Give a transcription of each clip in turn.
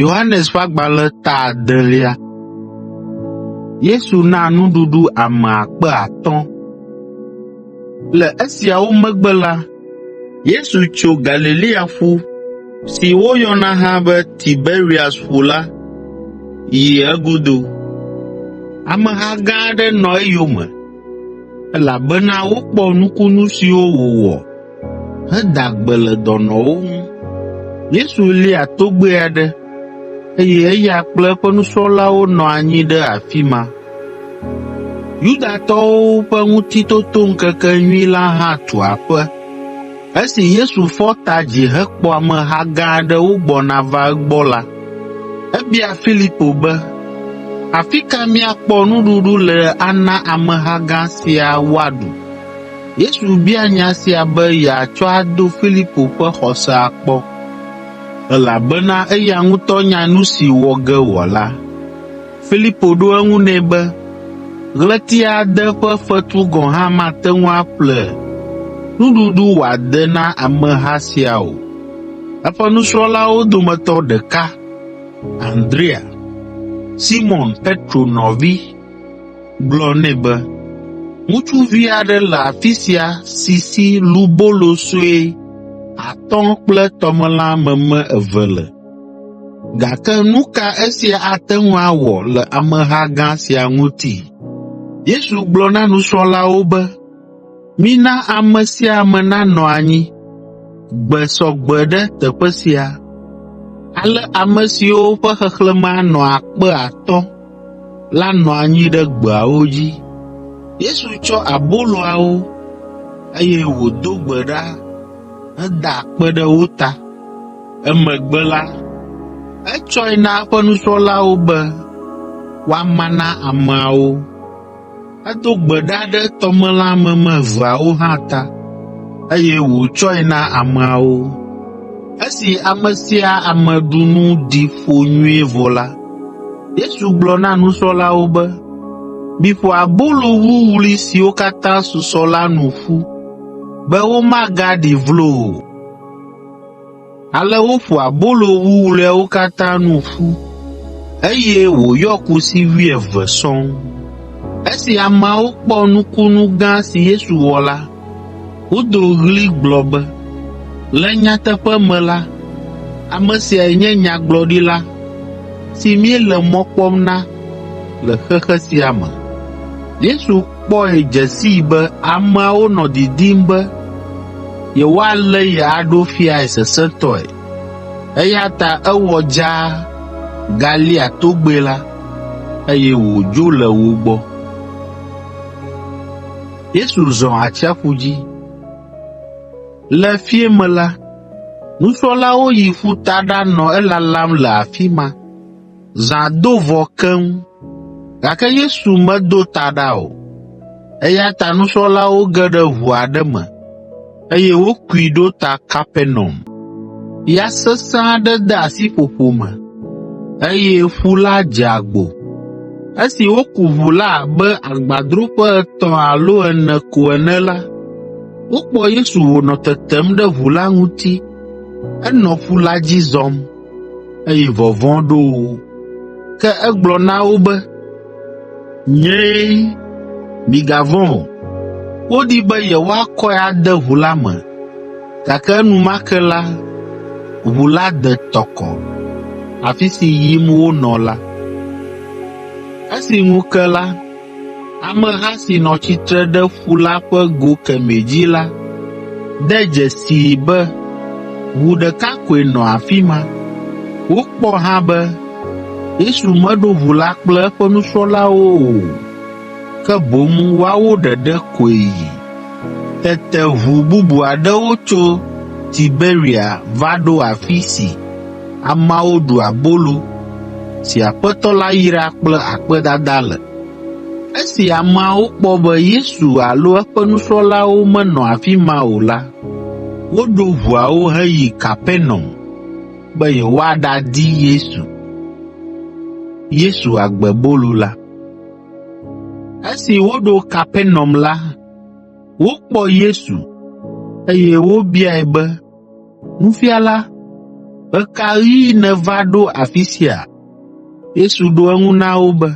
Yohanes ƒe agbalẽ ta adelia. Yesu na nuɖuɖu ame akpe atɔ̃. Le esiawo megbe la, Yesu tso Galilea ƒu si woyɔna hã be Tiberias ƒu la yi egodo. Ameha gã aɖe nɔ eyome elabena wokpɔ nukunu siwo wòwɔ heda gbe le dɔnɔwo ŋu. Yesu lia togbɛ aɖe, eye eya kple eƒe nusrɔ̃lawo nɔ anyi ɖe afi ma. Yudatɔwo ƒe Ŋutitotoŋkekenyui la hã tu aƒe. Esi Yesu fɔ ta dzi hekpɔ ameha gã aɖe wogbɔna va egbɔ la, ebia Filipo be, “Afi ka míakpɔ nuɖuɖu le ana ameha gã sia woaɖu?” Yesu bia nya sia be yeatsɔ ado Filipo ƒe xɔsea kpɔ, elabena eya ŋutɔ nya nu si wɔ ge wòala. Filipo ɖo eŋu nɛ be, “Ɣleti ade ƒe fetu gɔ̃ hã mate ŋu aƒle nuɖuɖu wòade na ameha sia o.” Eƒe nusrɔ̃lawo dometɔ ɖeka, Andrea, Simɔn Petro nɔvi, gblɔ nɛ be, “Ŋutsuvi aɖe le afi sia si si lubolo sue atɔ̃ kple tɔmelã meme eve le. Gake nu ka esia ate ŋu awɔ le ameha gã sia ŋuti?” Yesu gblɔ na nusrɔ̃lawo be, Mina ame sia ame nanɔ anyi gbe sɔ gbe ɖe teƒe sia, ale ame siwo ƒe xexlẽme anɔ akpe atɔ̃ (5,000) la nɔ anyi ɖe gbeawo dzi. Yesu tsɔ aboloawo, eye wòdo gbe ɖa heda akpe ɖe wo ta. Emegbe la, etsɔe na eƒe nusrɔ̃lawo be woama na ameawo. Edo gbe ɖa ɖe tɔmelãmeme eveawo hã ta, eye wòtsɔe na ameawo. Esi ame sia ame ɖu nu ɖi ƒo nyuie vɔ la, Yesu gblɔ na nusrɔ̃lawo be, “Miƒo abolo wuwlui siwo katã susɔ la nu ƒu, be womagaɖi vlo o.” Ale woƒo abolo wuwluiawo katã nu ƒu, eye wòyɔ kusi wuieve sɔŋ. Esi ameawo kpɔ nukunu gã si Yesu wɔ la, wodo ɣli gblɔ be, “Le nyateƒe me la, ame siae nye nyagblɔɖila si míele mɔ kpɔm na le xexe sia me.” kpɔe dze sii be ameawo nɔ didim be yewoalé ye aɖo fiae sesẽtɔe, eya ta ewɔ dzaa galia togbɛ la, eye wòdzo le wo gbɔ. Yesu zɔ atsiaƒu dzi. Le fiẽ me la, nusrɔ̃lawo yi ƒuta ɖanɔ elalam le afi ma. Zã do vɔ keŋ, gake Yesu medo ta ɖa o, eya ta nusrɔ̃lawo ge ɖe ʋu aɖe me, eye wokui ɖo ta Kapernaum. Ya sesẽ aɖe de asi ƒoƒo me, eye ƒu la dze agbo. Esi woku ʋu la abe agbadroƒe etɔ̃ alo ene ko ene la, wokpɔ Yesu wònɔ tetem ɖe ʋu la ŋuti henɔ ƒu la dzi zɔm. eye vɔvɔ̃ ɖo wo. Ke egblɔ na wo be, “Nyee, migavɔ̃ o.” Wodi be yewoakɔe ade ʋu la me, gake enumake la, ʋu la de tɔ kɔ, afi si yim wonɔ la. Esi ŋu ke la, Ameha si nɔ tsitre ɖe ƒu la ƒe go kemɛ dzi la de dzesii be ʋu ɖeka koe nɔ afi ma. Wokpɔ hã be Yesu meɖo ʋu la kple eƒe nusrɔ̃lawo o, ke boŋ woawo ɖeɖe koe yi. Tete ʋu bubu aɖewo tso Tiberia va ɖo afi si. Ameawo ɖu abolo si Aƒetɔ la yra kple akpedada le. Esi ameawo kpɔ be Yesu alo eƒe nusrɔ̃lawo menɔ afi ma o la, woɖo ʋuawo heyi Kapernaum be yewoaɖadi Yesu. Yesu agbe bolo la. Esi woɖo Kapernaum la, wokpɔ Yesu, eye wobiae be, “Nufiala, ɣe ka ɣi nèva ɖo afi sia?” Yesu ɖo eŋu na wo be,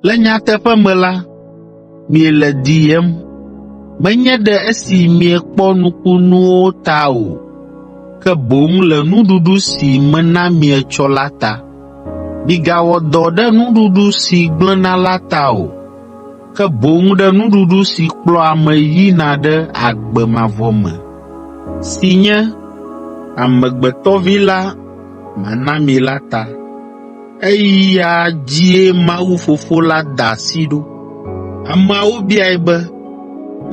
“Le nyateƒe me la, miele diyem, menye ɖe esi miekpɔ nukunuwo ta o, ke boŋ le nuɖuɖu si mena mi etsɔ la ta. Migawɔ dɔ ɖe nuɖuɖu si gblẽna la ta o. ke boŋ ɖe nuɖuɖu si kplɔa ame yina ɖe agbe mavɔ me, si nye amegbetɔvi la mana mi la ta. Eya dzie Mawu Fofo la da asi ɖo. Ameawo biae be,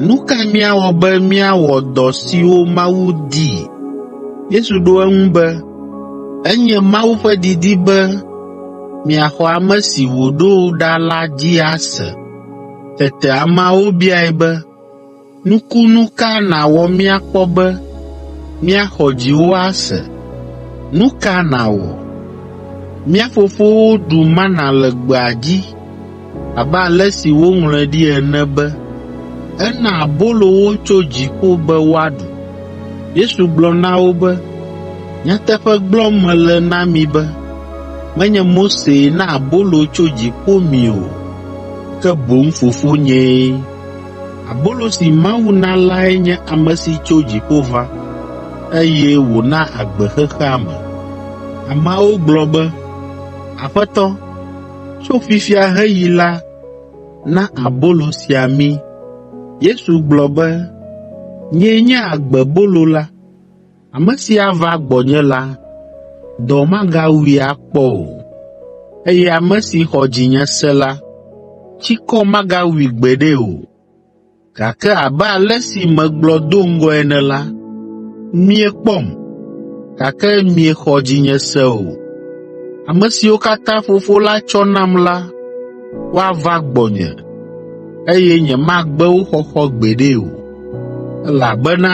“Nu ka míawɔ be míawɔ dɔ siwo Mawu dii?” Yesu ɖo eŋu be, “Enye Mawu ƒe didi be miaxɔ ame si wòɖo ɖa la dzi ase. Tete ameawo biae be, “Nukunu ka nàwɔ míakpɔ be míaxɔ dziwò ase? Nu ka nàwɔ? Mía fofowo ɖu mana le gbea dzi Abe ale si woŋlɔe ɖi ene be, Ena abolo wo tso dziƒo be woaɖu. Yesu gblɔ na wo be, Nyateƒe gblɔm mele na mi be, menye Mosee na abolo tso dziƒo mi o, ke boŋ Fofonyee. Abolo si Mawu na lae nye ame si tso dziƒo va, eye wòna agbe xexea me.” Ameawo gblɔ be, “Aƒetɔ, Tso fifia heyi la, na abolo sia mí.” Yesu gblɔ be, “Nyee nye agbebolo la. Ame si ava gbɔnye la, dɔ magawui akpɔ o, eye ame si xɔ dzinye se la, tsikɔ magawui gbeɖe o. Gake abe ale si megblɔ do ŋgɔe ene la, miekpɔm, gake miexɔ dzinye se o. Ame siwo katã Fofo la tsɔ nam la, woava gbɔnye, eye nyemagbe wo xɔxɔ gbeɖe o, elabena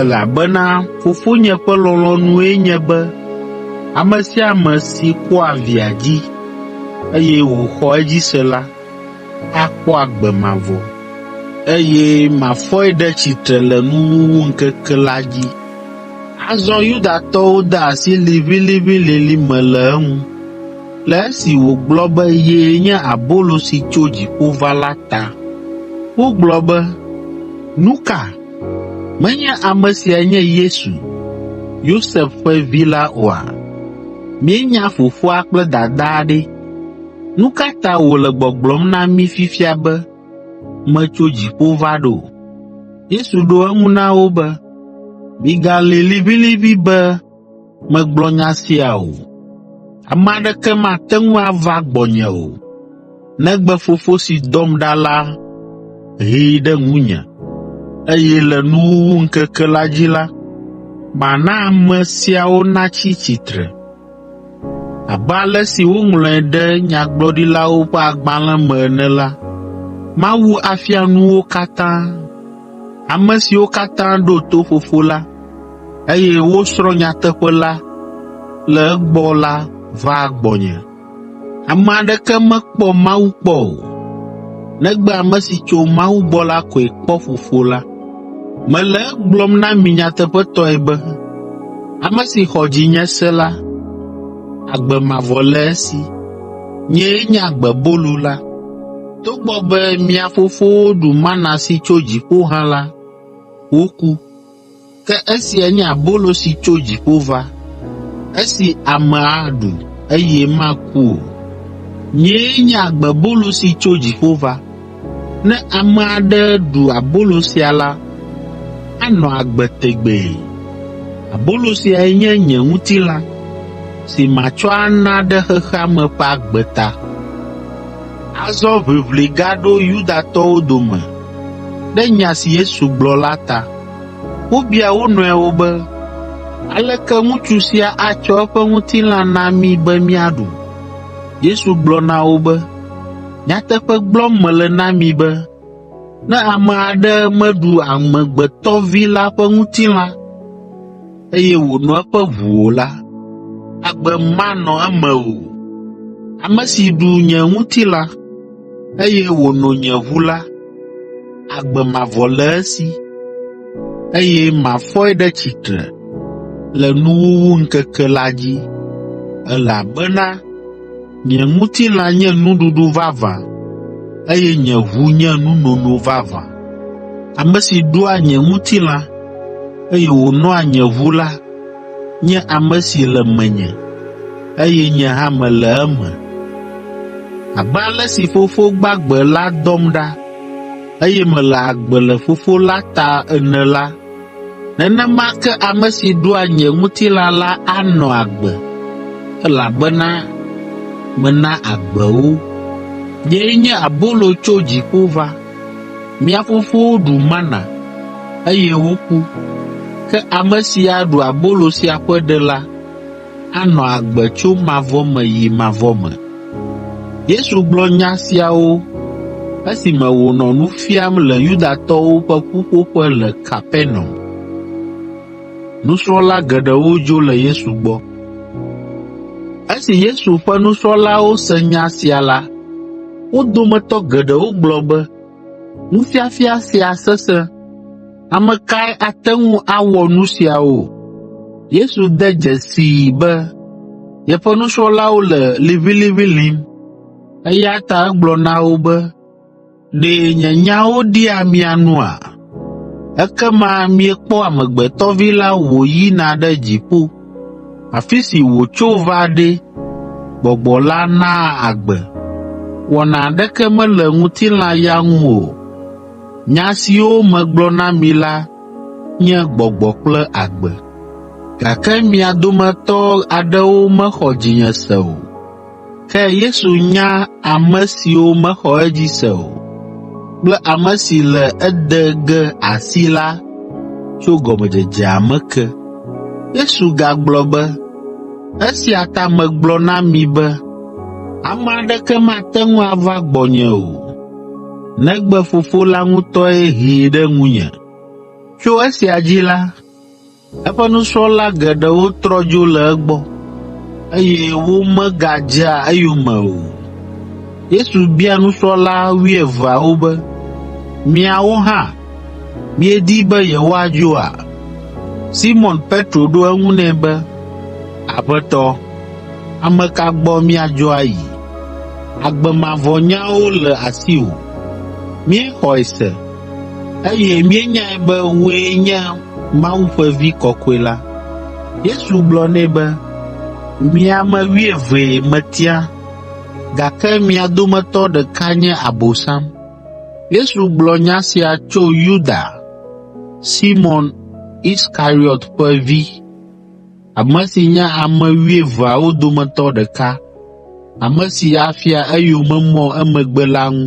Elabena Fofonye ƒe lɔlɔ̃nue nye be ame sia ame si kpɔa Via dzi, eye wòxɔ edzi se la, akpɔ agbe mavɔ, eye mafɔe ɖe tsitre le nuwuwuŋkeke la dzi.” Azɔ Yudatɔwo de asi liʋĩliʋĩlilĩ me le eŋu, le esi wògblɔ be yee nye abolo si tso dziƒo va la ta. Wogblɔ be, Nu ka? Menye ame siae nye Yesu, Yosef ƒe vi la oa? Míenya fofoa kple dadaa ɖe! Nu ka ta wòle gbɔgblɔm na mí fifia be, ‘Metso dziƒo va ɖo’?” Yesu ɖo eŋu na wo be, “Migalĩ liʋĩliʋĩ be megblɔ nya sia o. Ame aɖeke mate ŋu ava gbɔnye o, negbe Fofo si dɔm ɖa la hee ɖe ŋunye, eye le nuwuwu ŋkeke la dzi la, mana ame siawo natsi tsitre. Abe ale si woŋlɔe ɖe Nyagblɔɖilawo ƒe agbalẽ me ene la, mawu afia nu wo katã. Ame siwo katã ɖo to Fofo la, eye wosrɔ̃ nyateƒe la le egbɔ la vaa gbɔnye. Ame aɖeke mekpɔ Mawu kpɔ o, negbe ame si tso Mawu gbɔ la koe kpɔ Fofo la. Mele egblɔm na mi nyateƒetɔe be, ame si xɔ dzinye se la, agbe mavɔ le esi. Nyee nye agbebolu la. Togbɔ be mia fofowo ɖu mana si tso dziƒo hã la, woku. Ke esia nye abolo si tso dziƒo va, esi ame aɖu, eye maku o. Nyee nye agbebolo si tso dziƒo va. Ne ame aɖe ɖu abolo sia la, anɔ agbe tegbee. Abolo siae nye nye ŋutilã, si matsɔ ana ɖe xexea me ƒe agbe ta.” Azɔ ʋiʋli gaɖo Yudatɔwo dome ɖe nya si Yesu gblɔ la ta. Wobia wo nɔewo be, “Aleke ŋutsu sia atsɔ eƒe ŋutilã na mí be míaɖu?” Yesu gblɔ na wo be, “Nyateƒe gblɔm mele na mi be, ne ame aɖe meɖu Amegbetɔ Vi la ƒe ŋutilã o la, eye wòno eƒe ʋu o la, agbe manɔ eme o. Ame si ɖu nye ŋutilã, eye wòno nye ʋu la, agbe mavɔ le esi, eye mafɔe ɖe tsitre le nuwuwuŋkeke la dzi, elabena Nye ŋutilã nye nuɖuɖu vavã, eye nye ʋu nye nunono vavã. Ame si ɖua nye ŋutilã, eye wònoa nye ʋu la, nye ame si le menye, eye nye hã mele eme. Abe ale si Fofo gbagbe la dɔm ɖa, eye mele agbe le Fofo la ta ene la, Nenema ke ame si ɖua nye ŋutilã la anɔ agbe, elabena mena agbe wo. Nyee nye abolo tso dziƒo va. Mia fofowo ɖu mana, eye woku, ke ame si aɖu abolo sia ƒe ɖe la, anɔ agbe tso mavɔ me yi mavɔ me. Yesu gblɔ nya siawo esime wònɔ nu fiam le Yudatɔwo ƒe ƒuƒoƒe le Kapernaum. Nusrɔ̃la geɖewo dzo le Yesu gbɔ. Esi Yesu ƒe nusrɔ̃lawo se nya sia la, wo dometɔ geɖewo gblɔ be, “Nufiafia sia sesẽ.” Ame kae ate ŋu awɔ nu siawo? Yesu de dzesii be yeƒe nusrɔ̃lawo le liʋĩliʋĩ lĩm, eya ta egblɔ na wo be, “Ɖe nye nyawo ɖia mia nua? Ekema miekpɔ Amegbetɔ Vi la wòyina ɖe dziƒo, afi si wòtso va ɖe, Gbɔgbɔ la naa agbe. Wɔna aɖeke mele ŋutilã ya ŋu o. Nya siwo megblɔ na mi la nye gbɔgbɔ kple agbe, gake mia dometɔ aɖewo mexɔ dzinye se o. Ke Yesu nya ame siwo mexɔ edzi se o kple ame si le ede ge asi la tso gɔmedzedzea me ke. Yesu gagblɔ be, “Esia ta megblɔ na mi be, ame aɖeke mate ŋu ava gbɔnye o, negbe Fofo la ŋutɔe hee ɖe ŋunye. Tso esia dzi la, eƒe nusrɔ̃la geɖewo trɔ dzo le egbɔ, eye womegadzea eyome o. Yesu bia nusrɔ̃la wuieveawo be, “Miawo hã, miedi be yewoadzoa?” Simɔn Petro ɖo eŋu nɛ be, “Aƒetɔ, ame ka gbɔ míadzo ayi?” Agbe mavɔ nyawo le asiwò. Míexɔe se, eye míenyae be wòe nye Mawu ƒe Vi Kɔkɔe la.” Yesu gblɔ nɛ be, “Mi ame wuievee metia, gake mia dometɔ ɖeka nye Abosam.” Yesu gblɔ nya sia tso Yuda, Simɔn Iskariɔt ƒe vi, ame si nye ame wuieveawo dometɔ ɖeka, ame si afia eyomemɔ emegbe la ŋu.